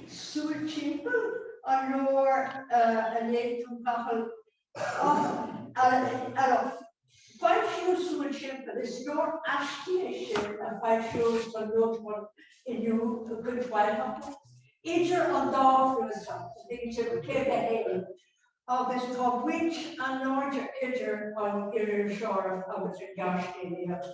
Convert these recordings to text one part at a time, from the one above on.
súil timpeall an leabhar a léigh tú, Cathal, ar foilsíodh Súil Timpeall, is leabhar aistí é sin a foilsíodh san nuachtán Inniu i gcuid mhaith acu. Idir an dá chnuasach, bhí siad 51 agus tá baint an-láidir idir an iriseoireacht agus an ghearrscéalaíocht.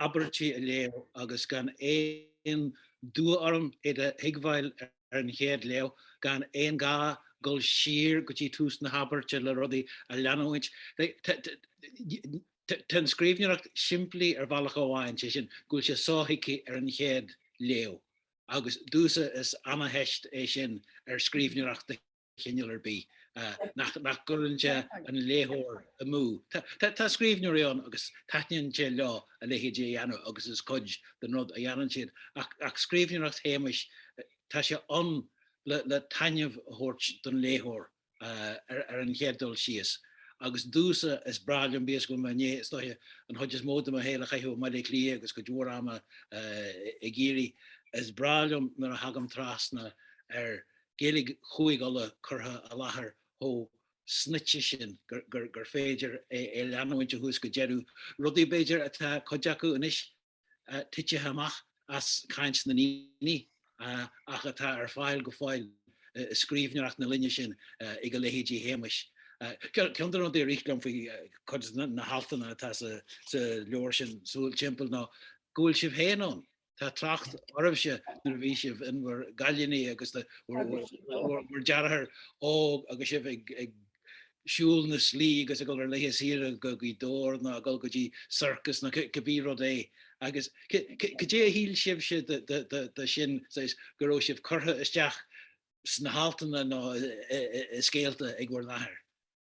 abairtí a léamh agus gan aon dua orm iad a thuigbheáil ar an chéad léamh, gan aon ghá dul siar go dtí tús na habairte le rudaí a leanúint. Tá an scríbhneoireacht simplí ar bhealach amháin, sé sin, go bhfuil sé sothuigthe ar an chéad léamh, agus domhsa is ana-theist é sin ar scríbhneoireacht de chineál ar bith nach gcuireann sé an léitheoir amú. Tá scríbhneoirí ann agus taitníonn sé leo a leithéid a dhéanamh agus is cuid den rud a dhéanann siad, ach scríbhneoireacht Shéamuis, tá sé ann le taitneamh a thabhairt don léitheoir ar an chéad dul síos. Agus domhsa, is breá liom bíodh is go bhfuil mé i ndiaidh, is dóiche, an chuid is mó de mo shaol a chaitheamh i mBaile Átha Cliath agus cuid mhór ama i gCiarraí, is breá liom nuair a thagaim trasna ar Gaeilge Chúig' Uladh curtha i láthair chomh snoite sin gur féidir é a leanúint ó thús go deireadh, rudaí, b'fhéidir, atá cuid acu anois titithe amach as caint na ndaoine ach atá ar fáil go fóill i scríbhneoireacht na linne sin ag a leithéidí Shéamais. Ceann de na rudaí a rith liom faoi chuid de na haltanna atá sa leabhar sin, Súil Timpeall, ná go bhfuil sibh féin ann. Tá trácht oraibhse nuair a bhí sibh in bhur gcailíní agus bhur deartháir óg agus sibh ag siúl na slí agus ag dul ar laetha saoire go Gaoth Dobhair ná ag dul go dtí circus ná cibí rud é agus cad é a shíl sibhse de sin saghas go raibh sibh curtha isteach sna haltanna ná i scéalta ag bhur n-athair?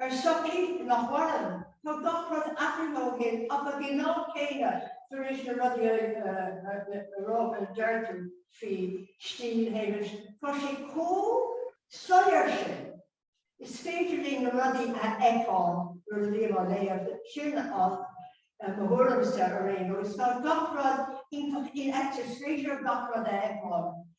Ar shochaí nach mhaireann, tá gach rud athraithe ó shin ach ag an am céanna tar éis na rudaí a rá a deir tú faoi stíl Shéamuis, tá sé chomh soiléir sin, is féidir linn na rudaí a fheiceáil nuair a bhím á léamh, sin mo thuairimse ar aon nós. Tá gach rud iontach infheicthe, is féidir gach rud a fheiceáil.